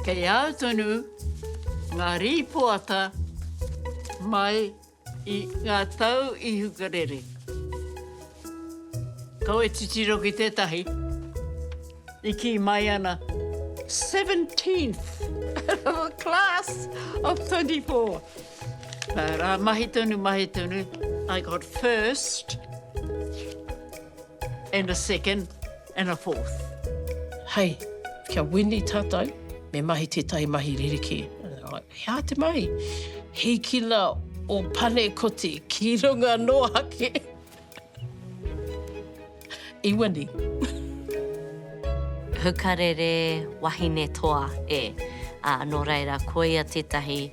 Kei a au tonu ngā rīpoata mai i ngā tau i hukarere. Kaua e titiro ki tētahi, i kī mai ana, Seventeenth out of a class of twenty four. Nā rā, mahi tonu, mahi tonu, I got first and a second. and a fourth. Hei, kia wini tatou, me mahi tetahi mahi rerekē. He aha te mahi? Hikina o Panekoti ki runga no ake i wini. Hukarere wahine toa e, a no reira koia tetahi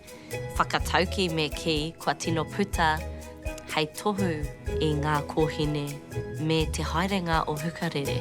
Whakatauki me kī kua tino puta hei tohu i ngā kōhine me te haerenga o Hukarere.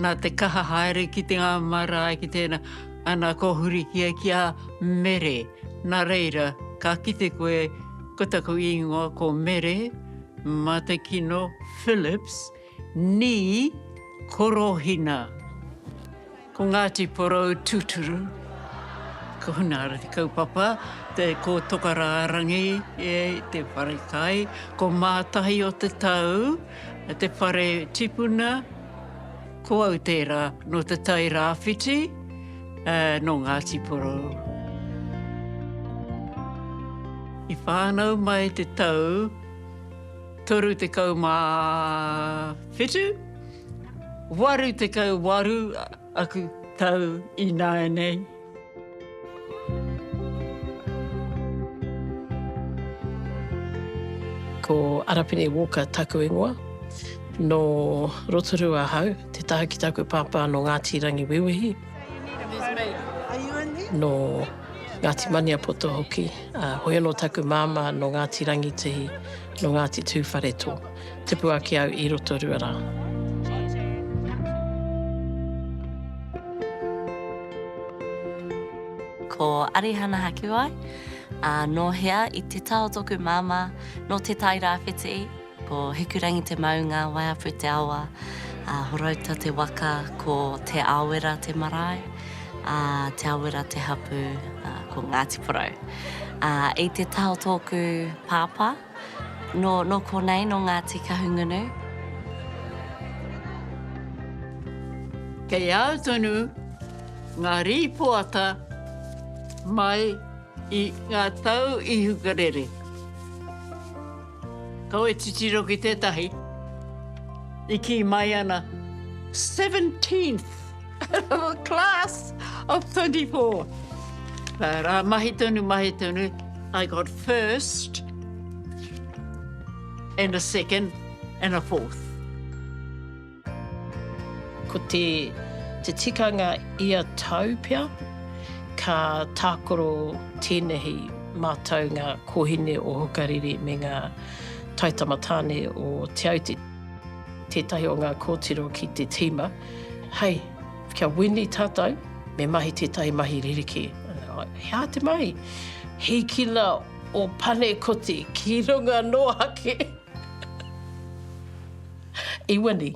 Nā te kaha haere ki te ngā marae, ki tēnā, ana kōhuri ki a, ki a Mere. Nā reira, ka kite koe, ko taku īngoa ko Mere Matekino Phillips, nī Korohina. Ko Ngāti Porou tūturu. Ko Hunahara te kaupapa, te, ko Tokarārangi te wharekai, ko Mātahi o te tau, Te whare tipuna, ko au tērā, nō Te Tai Rāwhiti, nō Ngāti Porou. I whānau mai te tau 37, 88 aku tau ināianei. Ko Arapene Walker taku ingoa. Nō Rotorua ahau, te taha ki taku pāpā nō Ngāti Rangiwewehi, nō Ngāti Maniapoto hoki, ā, heoi anō taku māmā nō Ngāti Rangitihi, nō Ngāti Tūwharetoa. Tupu ake au i Rotorua rā. Ko Arihana Hakiwai, ā, nō hea i te tao tōku māmā, nō Te Tai Rāwhiti, ko Hikurangi te maunga, Waiapu te awa, ā, Horouta te waka, ko Te Aowera te marae, ā, Te Aowera te hapū, ā, ko Ngāti Porou. Ā, i te tao tōku pāpā. Nō konei, nō Ngāti Kahungunu. Kei au tonu ngā rīpoata mai i ngā tau i hukarere. Kau e titiro ki tētahi i kī mai ana, 17th! Class of 24. Rā, mahi tonu, mahi tonu. I got first and a second and a fourth. Ko te, te tikanga ia tau pea, ka tākoro tēnehi mātaunga kōhine o Hukarere me ngā taitama tāne o Te Aute. Tētahi o ngā kōtiro ki te tīma, Hei, kia wini tātou, me mahi tētahi mahi ririki. He aha te mahi? Hīkina o Panekoti ki runga noa ake. I wini.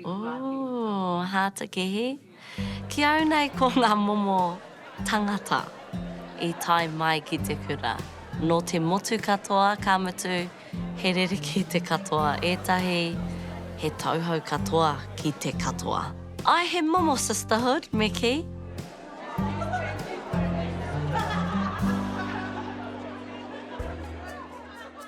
Ooh, Hātekehi. Ki au nei ko ngā momo tangata i tae mai ki te kura. Nō te motu katoa, ka mutu, he rerekē te katoa. Ētahi, he tauhou katoa ki te katoa. Ae, he momo sisterhood me kī.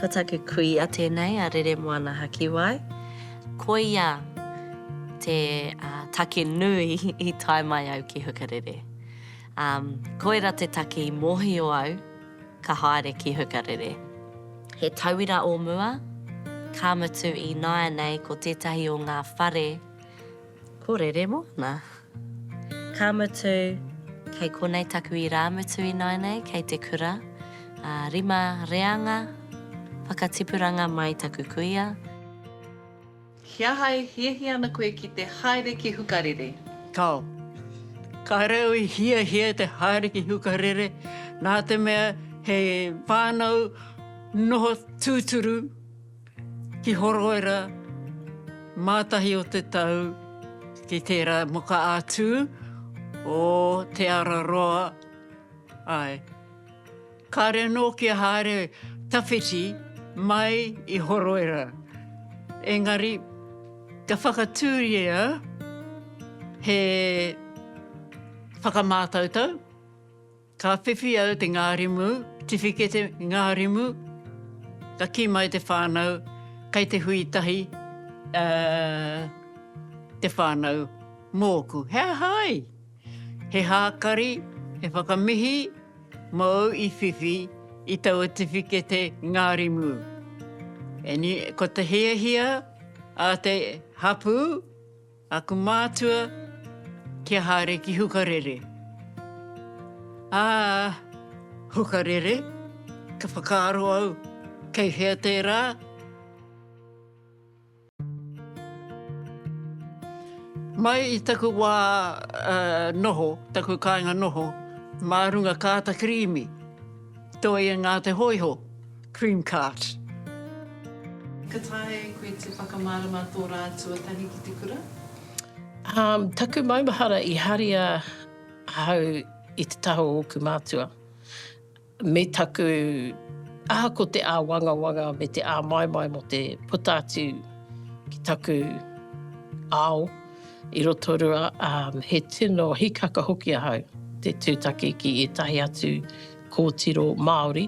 Ko taku kuia tēnei a Rere Moana Hakiwai. Koia te take nui i tae mai au ki Hukarere. Koira te take i mōhio au ka haere ki Hukarere. He tauira o mua, ka mutu ināianei ko tētahi o ngā whare ko Rere Moana. Ka mutu. Kei konei taku irāmutu ināinei kei te kura, ā, rima reanga whakatipuranga mai taku kuia. He aha e hiahia ana koe ki te haere ki Hukarere? Tao. Kāre au i hiahia te haere ki Hukarere, nā te mea he whānau noho tūturu. Ki Horoera, mātahi o te tau ki tērā moka ā-tū o Te Ara Roa, āe. Kāre anō kia haere tawhiti mai i Horoera, engari ka whakatūria he whakamātautau, Ka whiwhi au te ngārimu, tiwhikete ngārimu, ka kī mai te whānau, kei te hui tahi te whānau mōku. He aha ai? He hākari, he whakamihi mōu i whiwhi i taua tiwhikete ngārimu. Ko te hiahia a te hapū, Aku mātua, kia haere ki Hukarere. Ā, Hukarere, ka whakaaro au, kei hea tērā? Mai i taku wā noho, taku kāinga noho, mā runga kāta kirīmi, toi e ngā te hōiho. cream cart. Ka taea e koe te whakamārama tō rā tuatahi ki te kura? Um, taku maumahara i haria ahau i te taha o oku mātua me taku aha ko te āwangawanga me te āmaimai mo te puta atu ki taku ao i Rotorua, um, he tino hikaka hoki ahau te tūtaki ki ētahi atu Kōtiro Māori,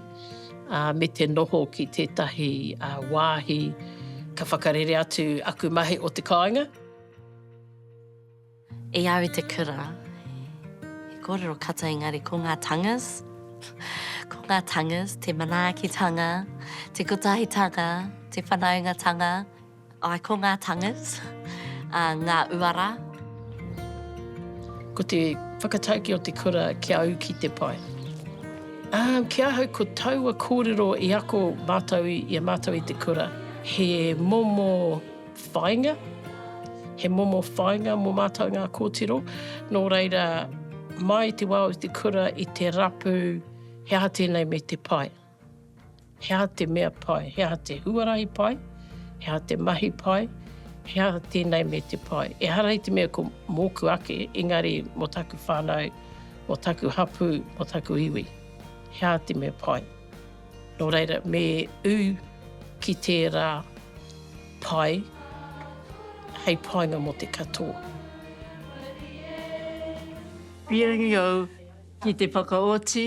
ā, me te noho ki tētahi wāhi ka whakarere atu aku mahi o te kāinga. I au i te kura, he kōrero katoa engari ko ngā tangas, ko ngā tangas, te manaakitanga, te kotahitanga, te whanaungatanga, Ai ko ngā tongues, ngā uara. Ko te whakataukī o te kura ki a au ki te pai. Āu, ki ahau ko taua kōrero i ako mātou i a mātou i te kura. He momo whāinga, he momo whāinga mō mātou ngā kōtiro. Nō reira, mai i te wā o te kura i te rapu, he aha tēnei me te pai. He aha te mea pai? He aha te huarahi pai? He aha te mahi pai? He aha tēnei me te pai? Ehara i te mea ko mōku ake, engari mō taku whānau, mō taku hapū, mō taku iwi. He aha te mea pai? Nō reira, me ū ki tērā pai hei painga mō te katoa. Pēnei au ki te whakaoti.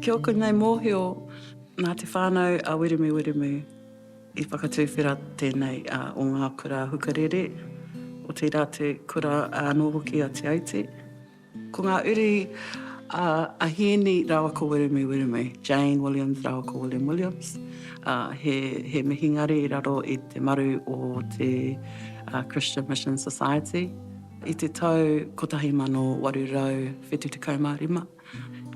Ki oku nei mohio na te whanau a Wiremu Wiremu i whakatuwhera tenei o nga kura hukarere, o teira te kura ano hoki a Te Aute. Ko ngā uri a Ahieni rāua ko Wiremu Wiremu, Jane Williams rāua ko William Williams, ā, he, he mihingare i raro i te maru o te Christian Mission Society. I te tau 1875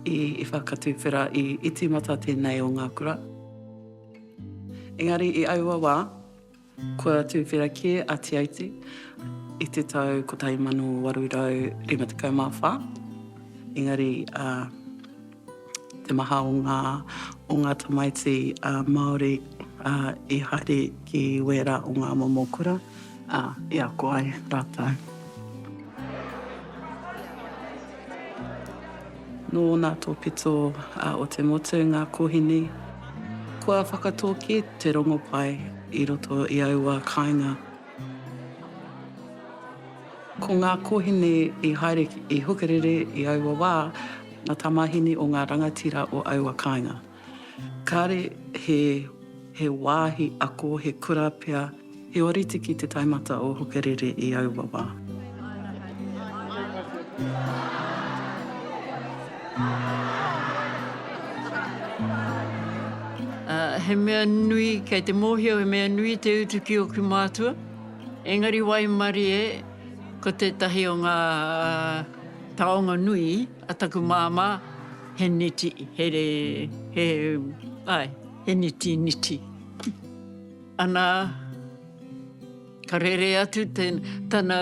i whakatuwhera, i, i tīmata tēnei o ngā kura. Engari i aua wā. Kua tuwhera kē a Te Aute i te tau 1854, engari te maha o ngā o ngā tamaiti Māori i haere ki wērā o ngā momo kura i ako ai rātou. Nō ōna tōpito o te motu ngā kōhine, kua whakatōki te rongopai i roto i aua kāinga. Ko ngā kōhine i haere i Hukarere i aua wā, ngā tamāhine o ngā rangatira o aua kāinga. Kāre he he wāhi ako, he kura pea, he oritiki te taumata o Hokerere i aua wā. He mea nui, kei te mōhio he mea nui te utu ki ōku mātua, engari waimarie ko tētahi o ngā taonga nui. A taku māmā, he niti, he, he, āe, he niti niti. Anā, ka rere atu te, tana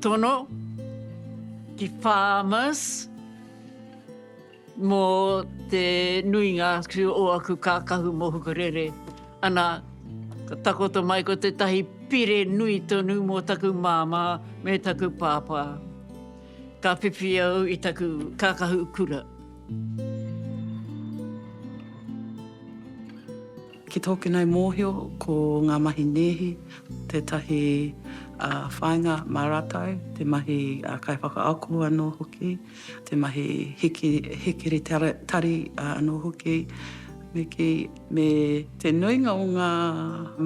tono ki Farmers mō te nuinga atu o aku kākahu mō Hukarere. Anā, ka takoto mai ko tētahi pire nui tonu mō taku māmā me taku pāpā. Ka whiwhi au i taku kākahu kura. Ki tōku nei mōhio, ko ngā mahi nēhi tētahi whāinga mā rātou, te mahi kaiwhakaako anō hoki, te mahi hikiri tari anō hoki, me kī. me te nuinga o ngā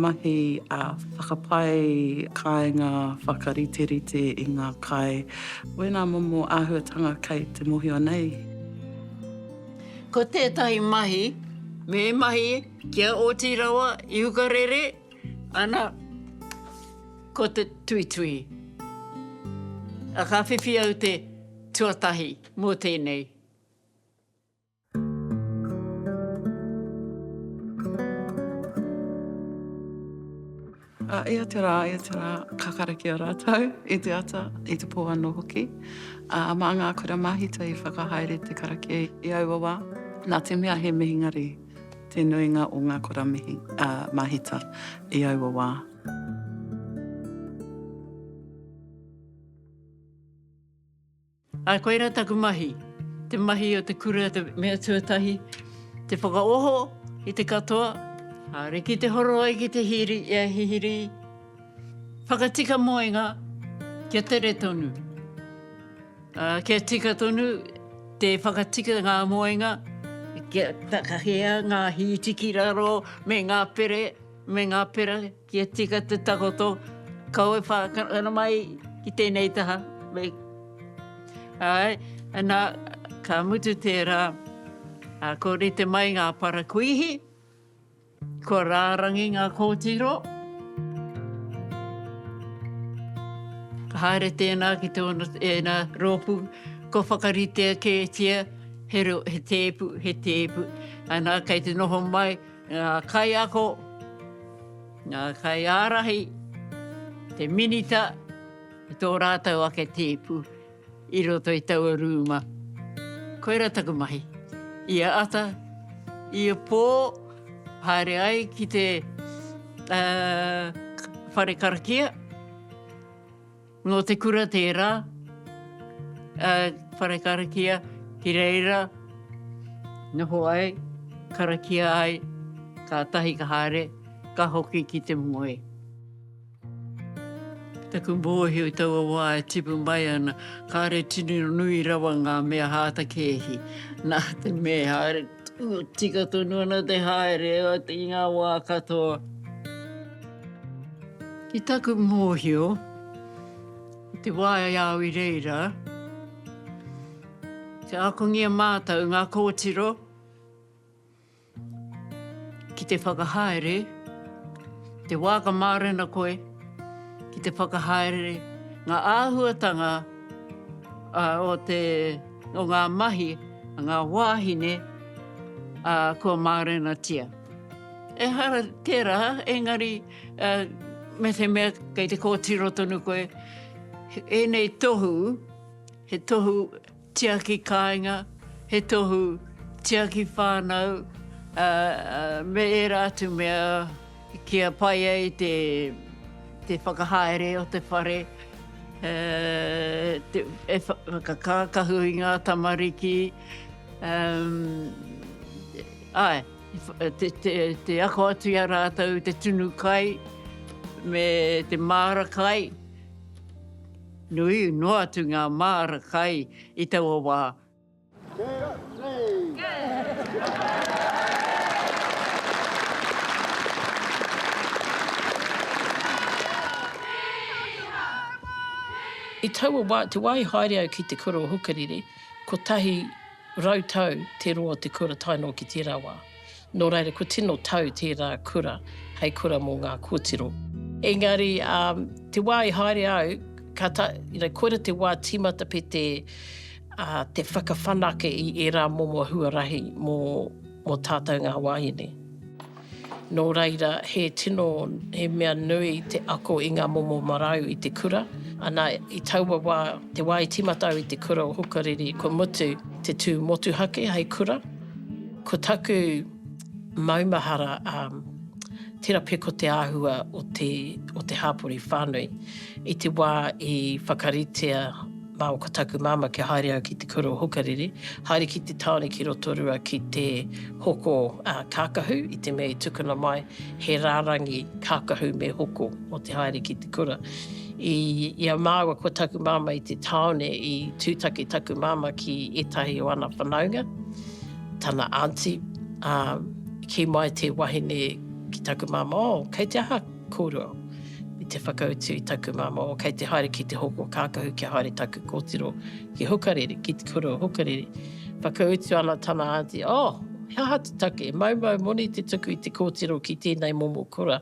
mahi whakapae kāinga whakariterite i ngā kai, wēnā momo āhuatanga kei te mohio nei. Ko tētahi mahi, me mahi kia oti rawa i hukarere ana ko te tuituhi. Ka whiwhi au te tuatahi mō tēnei. Aia te rā, aia te rā, ka karakia rātou i te ata, i te pō anō hoki. Ā, mā ngā kura māhita i whakahaere te karakia i aua wā, nā te mea he mihingare te nuinga o ngā kura mihi, ā, māhita i aua wā. Ā, koirā taku mahi, te mahi o te kura, te mea tuatahi, te whakaoho i te katoa, ā, riki te horo ai ki te hiri, i a hihiri, whakatika moenga kia tere tonu, ā, kia tika tonu te whakatika ngā moenga, kia takahia ngā hītiki raro me ngā pere, me ngā pera. Kia tika te takoto, kau e whākana mai ki tēnei taha. Me, āe, nā, ka mutu tērā, ā, ko rite mai ngā parakuihi, kua rārangi ngā kōtiro. Ka haere tēnā ki tōna, ēnā rōpū, kua whakaritea kētia he, he tēpu, he tēpu. Anā, kei te noho mai. ngā kaiako, ngā kaiārahi, te Minita, me tō rātou ake tēpu i roto i taua rūma. Koirā taku mahi. Ia ata, ia pō, haere ai ki te whare karakia. Nō te kura tērā, a Wharekarakia ki reira noho ai, karakia ai, kātahi ka haere, ka hoki ki te moe. Taku mōhio i taua wā e tipu mai ana, kāre tino nui rawa ngā mea hāta kēhi, nā te me haere tonu, tika tonu ana te haere i ngā wā katoa. Ki taku mōhio, i te wā i a au i reira, kia akongia mātou ngā kōtiro ki te whakahaere, te wā ka mārena koe ki te whakahaere, ngā āhuatanga o te, o ngā mahi a ngā wāhine kua mārenatia. Ehara tērā, engari me te mea kei te kōtiro tonu koe, ēnei tohu, he tohu tiaki kāinga, he tohu tiaki whānau, me ērā atu mea kia pai ai te whakahaere o te whare, e whakakākahu i ngā tamariki, Āe, te ako atu i a rātou i te tunu kai me te māra kai, nui noa atu ngā māra kai i taua wā. I taua wā, te wā i haere au ki te kura o Hukarere, kotahi. Rau tau te roa o te kura tae noa ki tērā wā. Nō reira, kua tino tau tērā kura hei kura mō ngā kōtiro. Engari, te wā i haere au, ka ta, you know, koira te wā tīmata pea te, te whakawhanake i ērā momo huarahi mō, mō tātou ngā wāhine. Nō reira, he tino, he mea nui te ako i ngā momo marau i te kura. Ana, i taua wā, te wā i tīmata au i te kura o Hukariri, kua mutu te tū motuhake hei kura. Ko taku maumahara, um, tērā pea ko te āhua o te, o te hāpori whānui i te wā i whakaritea, Mā ko taku māmā kia haere au ki te kura o Hukarere, haere ki te tāone ki Rotorua ki te hoko kākahu, i te mea i tukuna mai he rārangi kākahu me hoko mō te haere ki te kura. I ia māua ko taku māmā i te tāone i tūtaki taku māmā ki ētahi o ana whanaunga, tana aunty, ā, kī mai te wahine ki taku māmā, oh, kei te aha? Kōrua. Me te whakautu i taku māmā o kei te haere ki te hoko kākahu kia haere taku kōtiro ki Hukarere, ki te kura o Hukarere. Whakautu ana tana aunty, Oh, he aha te take? Maumau moni te tuku i te kōtiro ki tēnei momo kura.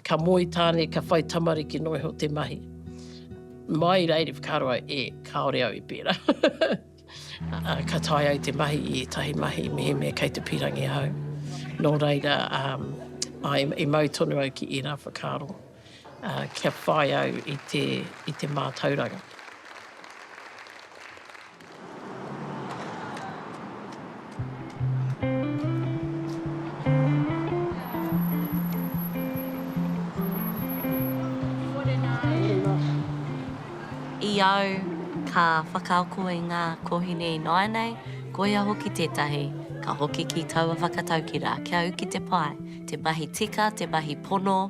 Ka moe tāne, ka whai tamariki noa iho te mahi. Mai reira i whakaaro au, E, kāore au i pērā. Ka tae ai te mahi i ētahi mahi mehemea kei te pīrangi ahau. Nō reira, i mau tonu au ki ērā whakaaro kia whai au i te mātauranga. I au, ka whakaako i ngā kōhine ināianei, koia hoki tētahi, ka hoki ki taua whakataukira, kia u ki te pae, te mahi tika, te mahi pono,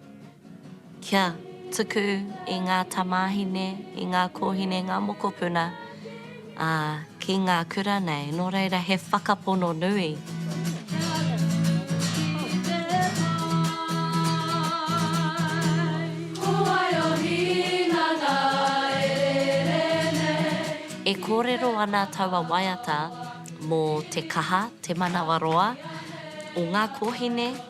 Kia tuku i ngā tamāhine, i ngā kōhine, ngā mokopuna, ā, ki ngā kura nei. Nō reira, he whakapono nui. E kōrero ana taua waiata mō te kaha, te manawaroa o ngā kōhine.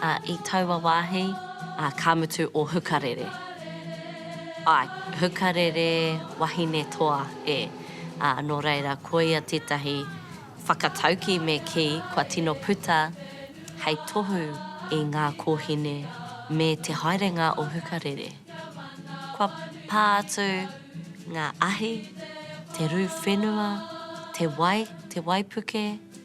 Ā, i taua wāhi, ā, ka mutu ō hukarere. Āe, hukarere wahine toa e, ā, nō reira, koia tētahi whakataukī me kī, kua tino puta hei tohu i ngā kōhine me te haerenga o hukarere. Kua pā atu ngā ahi, te rū whenua, te wai, te waipuke,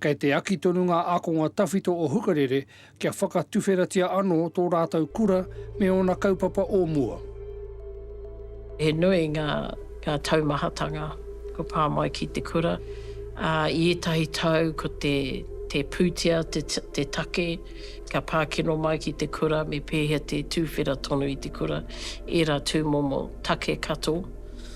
Kei te aki tonu ngā ākonga tawhito o Hukarere kia whakatuwheratia anō tō rātou kura me ōna kaupapa o mua. He nui ngā taumahatanga kua pā mai ki te kura, ā, i ētahi tau ko te te pūtea te take ka pā kino mai ki te kura me pēhea te tūwhera tonu i te kura, ērā tūmomo take kato.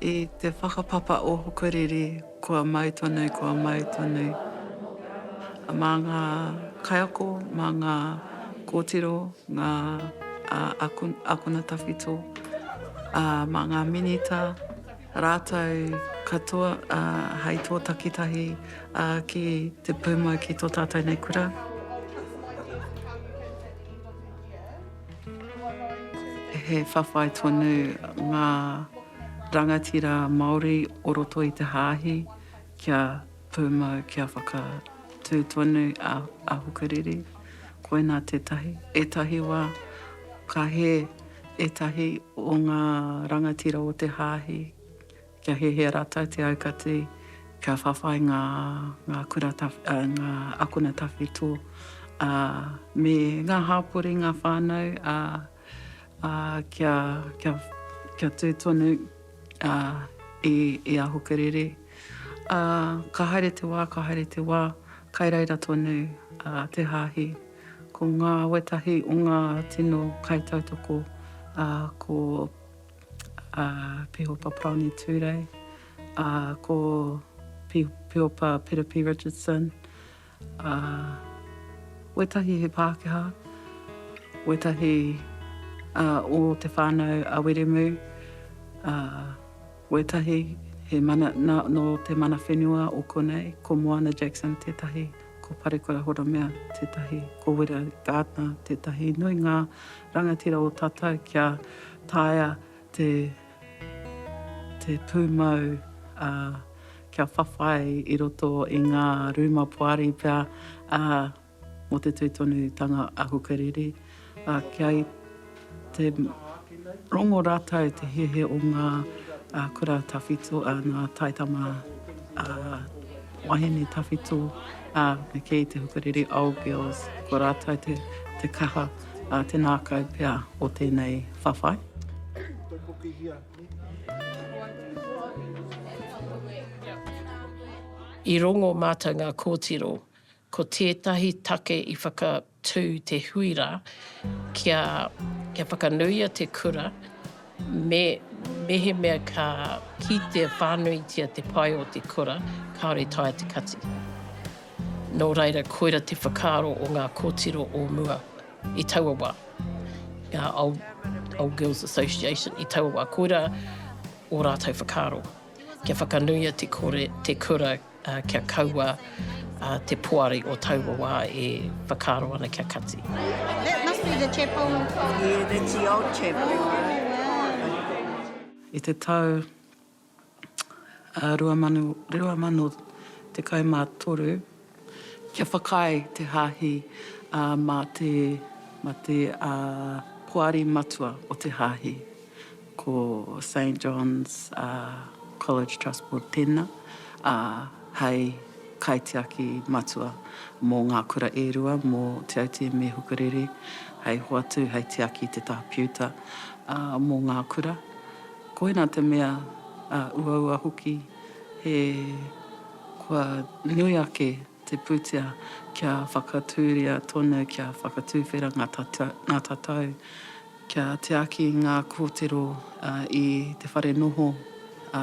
I te whakapapa o Hokoriri, kua mau tonu, kua mau tonu. Mā ngā kaiako, mā ngā kōtiro, ngā a, ako, akona tawhito, a, mā ngā minita, rātou katoa a, hai tō takitahi a, ki te pūmau ki tō tātou nei kura. He whawhai tonu ngā rangatira Māori o roto i te Hāhi kia pūmau, kia whakatū tonu a Hukarere. Koinā tētahi, ētahi wā ka hē ētahi o ngā rangatira o te Hāhi. Kia hiahia rātou te aukati, kia whawhai ngā akona tawhito me ngā hāpori, ngā whānau, ā, kia tū tonu i a Hokerere. Ā, ka haere te wā, ka haere te wā, kai reira tonu te hāhi. Ko ngā wētahi o ngā tino kaitautoko, ko. a Pihopa Paroni Turei, a ko Pi, Pihopa Piripi Richardson, a wetahi he Pākehā, wetahi a o te whānau a Wiremu, a wetahi he mana, na, no te mana whenua o konei, ko Moana Jackson tētahi, ko Parekura Horomea tētahi, ko Wira Gardner tētahi, nui ngā Rangatira o tata kia taea te te pumau a kia whawhai i roto i nga ruma poari pea a mo te tui tonu tanga a Hukariri a kia i te rongo ratou te hihi o nga a kura tawhito a nga taitama a wahine tawhito a me kii te Hukariri Old Girls ko ratou te te kaha. Ā te nākau pea o tēnei whawhai. I rongo mātou ngā kōtiro, ko tētahi take i whakatū te hui rā kia whakanuia te kura mehemea ka kitea whānuitia te pae o te kura, kāore taea te kati. Nō reira, koira te whakaaro o ngā kōtiro o mua i taua wā, ngā Old Girls Association i taua wā, koira ō rātou whakaaro, kia whakanuia te kore, te kura, kia kaua te poari o taua wā e whakaaro ana kia kati. That must be the chapel. Yeah, that's the old chapel. I te tau 2023, kia whakaae te Hāhi mā te Poari Matua o te Hāhi, ko Saint John's College Trust Board tēnā, hei kaitiaki matua mō ngā kura e rua, mō Te Aute me Hukarere, hei hoatu, hei tiaki i te tāpiuta mō ngā kura. Koina te mea a uaua hoki he kua nui ake te putea kia whakatūria tonu, kia whakatūwhera ngā tatau, kia tiaki ngā kōtiro i te whare noho, ā.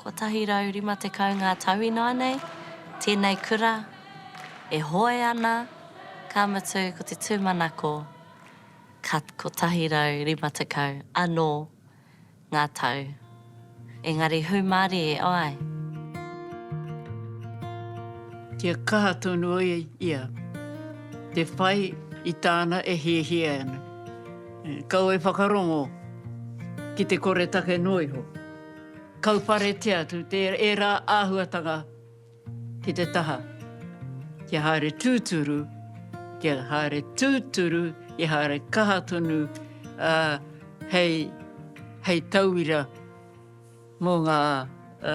150 ngā tau ināianei, tēnei kura e hoe ana, ka mutu ko te tūmanako ka 150 anō ngā tau, engari hūmārie ai. Kia kaha tonu ai ia te whai i tāna e hiahia ana. Kaua e whakarongo ki te koretake noa iho. Kauparetia atu ērā āhuatanga ki te taha, kia haere tūturu, kia haere tūturu, kia haere kaha tonu, ā, hei, hei tauira mō ngā, ā.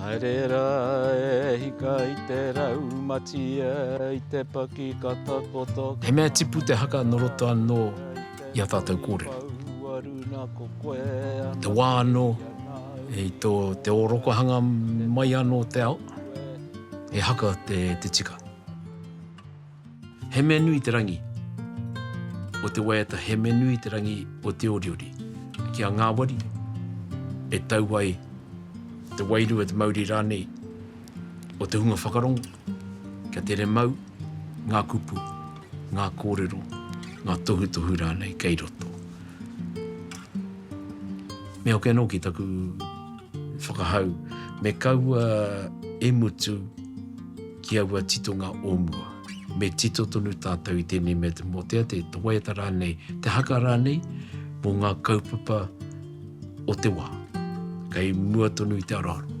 Haere rā e hika i te rau matia i te paki ka takoto He mea tipu te haka nō roto anō i ā tātou kōrero. I te wā anō, i tō te ōrokohanga mai anō o te ao, he haka te tika. He mea nui te rangi o te waiata, he mea nui te rangi o te oriori. Ki a ngāwari, e tau ai te wairua, te mauri rānei o te hunga whakarongo, kia tere mau ngā kupu, ngā kōrero, ngā tohutohu rānei kei roto. Me hoki anō ki taku whakahau, me kaua e mutu, ki aua titonga o mua. Me tito tonu tātou i tēnei mea te mōtea, te waiata rānei, te haka rānei mō ngā kaupapa o te wā, kei mua tonu i te aroaro.